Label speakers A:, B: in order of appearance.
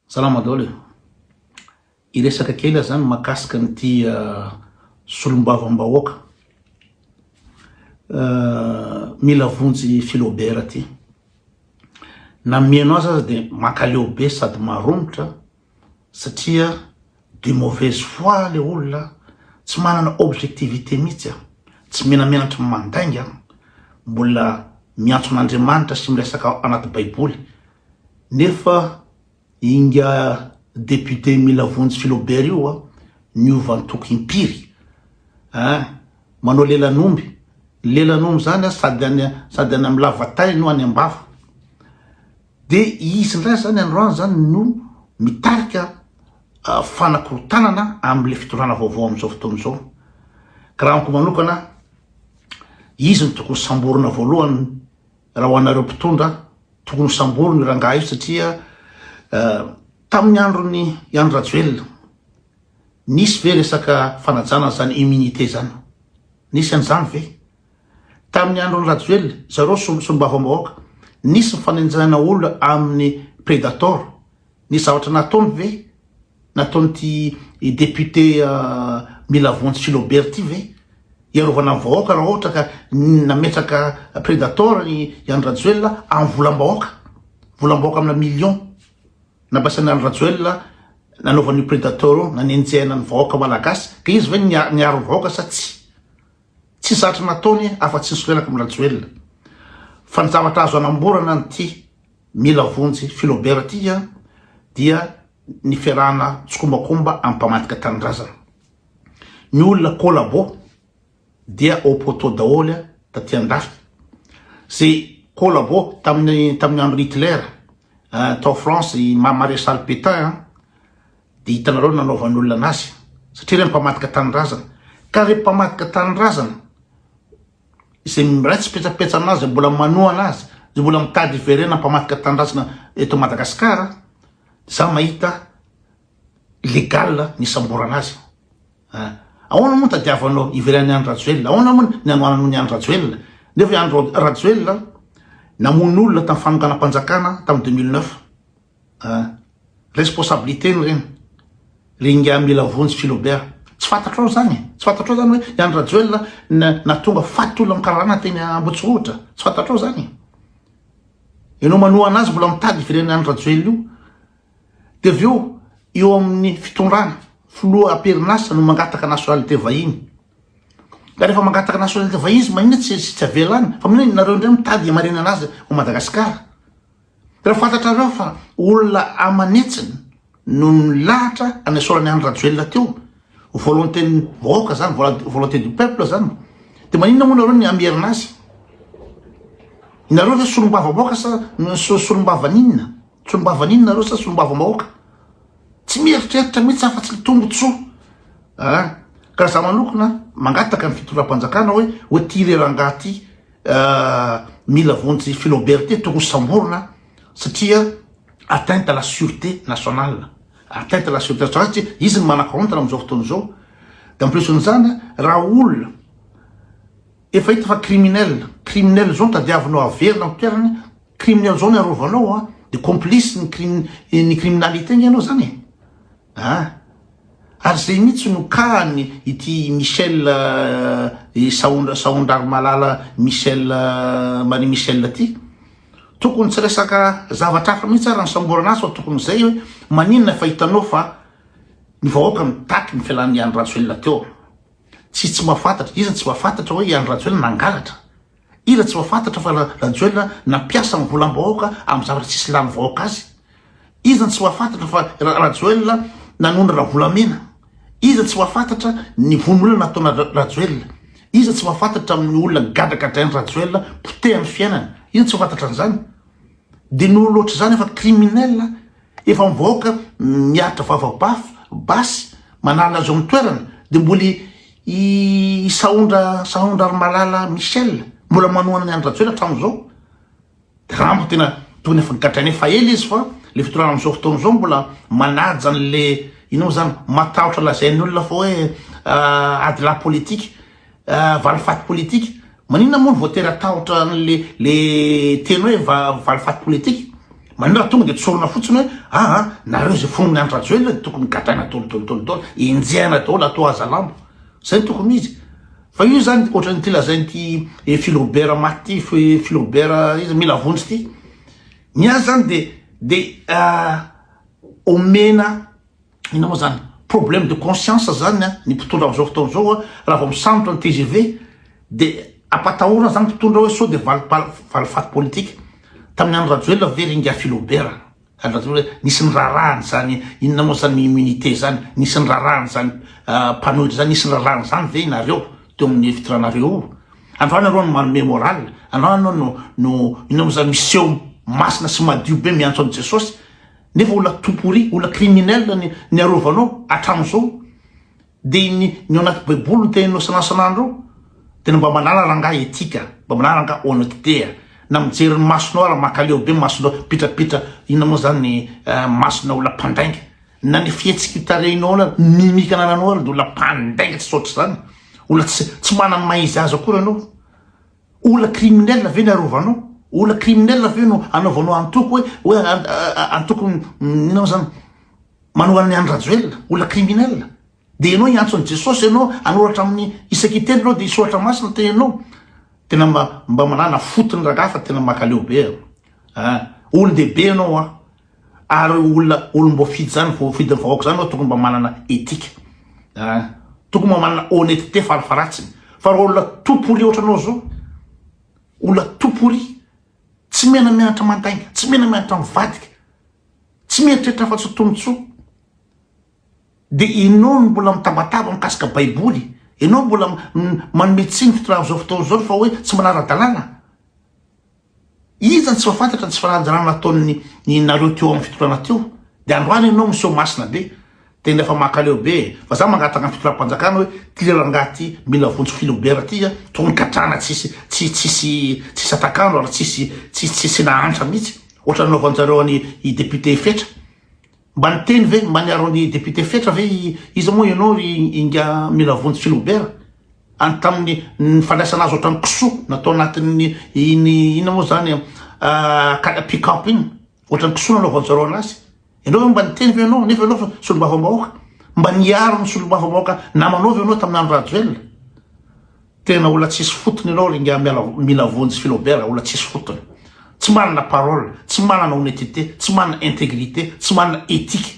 A: Salama daholo e! Hiresaka kely aho zany makasika an'ity solombavambahoaka mila vonjy Filobera ty. Na mihaino azy aza dia mankaleo be sady maromotra satria. De mauvaise foi le olona a! Tsy manana objectivité mihitsy a! Tsy menamenatra mandainga a! Mbola miantso an'Andriamanitra sy miresaka anaty baiboly nefa inga député mila vonjy Philobert io a! Niova antoko impiry a! Manao lelan'omby, ny lelan'omby zany a sady any sady any am lava tay no any am bava! De izy ndray zany androany zany no mitarika fanakorontanana amle fitondrana vaovao amzao fotoana zao. Ka raha amiko manokana izy no tokony samborina voalohany raha ho anareo mpitondra tokony ho samborina io rangahy io satria tamin'ny androny i Andry Rajoelina nisy ve resaka fanajana zany immunité zany? Nisy anzany ve? Tamin'ny andron'i Rajoelina, izao ireo solombavambahoaka, nisy ny fanenjehana olona amin'ny Predator. Nisy zavatra nataony ve? Nataon'ity député Milavonjy Philobert ity ve? Hiarovana ny vahoaka raha ohatra ka nametraka Predator i Andry Rajoelina amin'ny volam-bahoaka. Volam-bahoaka amina millions no nampiasain'i Andry Rajoelina nanaovany io Predator io, nanenjehana ny vahoaka malagasy. Ka izy ve niaro ny vahoaka sa tsia? Tsy zatra nataony afa tsy nisolelaka am Rajoelina. Fa ny zavatra azo anamborana an ty mila vonjy filobera ty an dia ny fiarahana tsikombakomba am mpamadika tanindrazana. Ny olona collabo dia au poteau daholy an taty an dafy. Ze collabo taminy taminy andro Hitler an tao France i maresaly Petain an Dia hitanareo ny nanaovan'olona anazy, satria ilay mpamadika tanindrazana. Ka ilay mpamadika tanindrazana, izay miray tsipetsapetsa aminazy, izay mbola manoa anazy, izay mbola mitady hiverena mpamadika tanindrazana eto Madagasikara, za mahita légal ny samborana azy. Ah. Ahoana moa ny tadiavanao hiverenan'i Andry Rajoelina? Ahoana moa ny hanohananao ny Andry Rajoelina? Nefa i Andry Rajoelina namono olona tamin'ny fanonganam-panjakana tamin'ny 2009. Ah. Responsabilité ny reny. Ry ingahy mila vonjy Philobert. Tsy fantatrao zany e. Tsy fantatrao zany hoe i Andry Rajoelina nahatonga faty olona amin'ny karana teny Ambotsirohotra. Tsy fantatrao zany e. Ianao manohana azy mbola mitady hiverenan'i Andry Rajoelina io. Dia avy eo eo amin'ny fitondrana filoha am-perinasa no mangataka nationalité vahiny. Ka rehefa mangataka nationalité vahiny izy manina tsy tsy avela any. Fa manina nareo indray mitady hamarinana azy ao Madagasikara. Raha fantatrareo fa olona aman'hetsiny no nilahatra hanesorana i Andry Rajoelina teo, volonté-n'ny vahoaka zany, volonté du peuple zany, de maninona moa nareo ny hamerina azy? Nareo ve solombavambahoaka sa solombavan'inona? Solombavan'inona nareo sa solombavambahoaka? Tsy mieritreritra mihitsy afa tsy ny tombotsoa a! Ka za manokona mangataka ny fitondram-panjakana hoe hoe ty re rangahy ty Mila vonjy Filoberté tokony samborina satria atteinte à la sûreté nationale atteinte à la sûreté nationale satria izy ny manakorontana amin'izao fotoana izao de en plus n'izany raha olona efa hita fa criminel criminel zao no tadiavinao averina amin'ny toerany criminel zao no arovanao de complice ny criminalité ange ianao zany e Ah! Ary zay mitsy no kahany ity Michel eh, sahondra sahondra ry malala Michel eh, Marie Michel ty. Tokony tsy resaka zavatra hafa mitsy ary nisamborana azy fa tokony zay hoe maninona fa hitanao fa ny vahoaka mitaky ny fialan'ny Andry Rajoelina teo. Tsy tsy mahafantatra, iza tsy mahafantatra hoe i Andry Rajoelina nangalatra. Iza tsy mahafantatra fa Rajoelina nampiasa ny volam-bahoaka amin'ny zavatra tsisy lany vahoaka azy? Iza tsy mahafantatra fa Rajoelina nanona Ravolamena? Iza tsy mahafantatra ny vono olona nataona Rajoelina? Iza tsy mahafantatra amin'ny olona gadragadrain'i Rajoelina potehan'ny fiainana? Iza tsy mahafantatra an'izany? Dia noho loatra izany efa criminel Efa mivaoka miaritra vava bafy basy manala zao ny toerana de mboly i sahondra sahondra ry malala Michel mbola manohana ny Andry Rajoelina hatramin zao de raha amiko tena tokony efa gadraina efa ela izy fa le fitondrana amizao fotoana zao mbola manaja anle ino mo zany matahotra lazain'ny olona fa hoe adilahy politika Valifaty politika? Maninona moa no vao tera-tahotra an'le le teny hoe valifaty politika? Maninona raha tonga dia tsorina fotsiny hoe aa nareo izay fonon'ny Andry Rajoelina dia tokony gadraina daholo daholo daholo daholo, enjehina daholo atao hazalambo. Izay no tokony izy. Fa io izany ohatran'ity lazain'ity Filrobert maty ity, Filrobert iza, mila vonjy ity. Ny azy izany dia dia omena. inona moa zany problème de conscience zany a ny mpitondra am'zao fotoana zao a raha vao misambotra ny tgv de ampatahorana zany mpitondra hoe sao de valipal- valifaty politique tamin'ny andro rajoelina ve ry ingahy filobert andro rajoelina hoe nisy ny raharahany zany inona moa zany ny immunité zany nisy ny raharahany zany ah, mpanohitra zany nisy ny raharahany zany ve nareo teo amin'ny fitranareo io androany areo no manome moral androany anao no no inona moa zany miseho masina sy madio be miantso an'i jesosy Nefa olona tout pourri, olona criminel ny niarovanao hatramin'izao. Dia ny ny ao anaty baiboly no tena nosanansananareo. Tena mba manala rangahy etika, mba manala rangahy honnêteté a. Na mijery ny masonao ary mankaleo be ny masonao, pitrapitra inonanao zany ny masona olona mpandainga. Na ny fihetsiky tarehinao na mimika anananao ary dia olona mpandainga tsy saotra izany. Olona tsy tsy manana ny maha izy azy akory anao. Olona criminel ve ny arovanao? Olona criminel ve no anaovanao antoko hoe hoe antoko inona moa zany manohana an'i Andry Rajoelina? Olona criminel. Dia ianao hiantso an'i Jesosy ianao hanoratra amin'ny isan-kiteny ianao dia soratra masina ny teninao. Tena mba mba manana fo tony rangahy fa tena makaleo be a. Olon-dehibe ianao a. Ary olona olom-boafidy zany, voafidin'ny vahoaka zany no tokony mba manana etika an! Tokony mba manana honnetete farafaratsiny fa raha olona tout pourri ohatranao zao, olona tout pourri, tsy miana-mianatra mandainga, tsy miana-mianatra mivadika, tsy mieritreritra afa-tsy ho tombontsoa, dia ianao no mbola mitabataba mikasika baiboly, ianao mbola manome tsiny fitondrana zao fotoana zao fa hoe tsy manara-dalàna. Iza no tsy mahafantatra ny tsy fananjanana nataon'ny ny nareo teo amin'ny fitondrana teo? Dia androany ianao miseho masina be, tena efa mankaleo be e! Fa za mangataka ny fitondram-panjakana hoe ty rangahy ty mila vonjy filobera ty a, tokony gadrana tsisy tsy tsisy tsisy atakalo ary tsisy tsisy tsisy nahantra mihitsy, ohatran'ny nanaovanjareo an'i i député Fetra. Mba niteny ve mba niaro an'i député Fetra ve i iza moa ianao ry Inga mila vonjy Philobert any tamin'ny ny fandraisana azy ohatran'ny kisoa natao anatin'ny iny inona moa zany kala pick up iny ohatran'ny kisoa nanaovanjareo anazy ianao ve mba niteny ve ianao nefa ianao fa solombavambahoaka mba niaro ny solombavambahoaka namanao ve ianao tamin'ny andro Rajoelina Tena olona tsisy fotony ianao ry ingahy mila vonjy Philobert olona tsisy fotony. Tsy manana parole, tsy manana honnetite, tsy manana integrite, tsy manana ethique.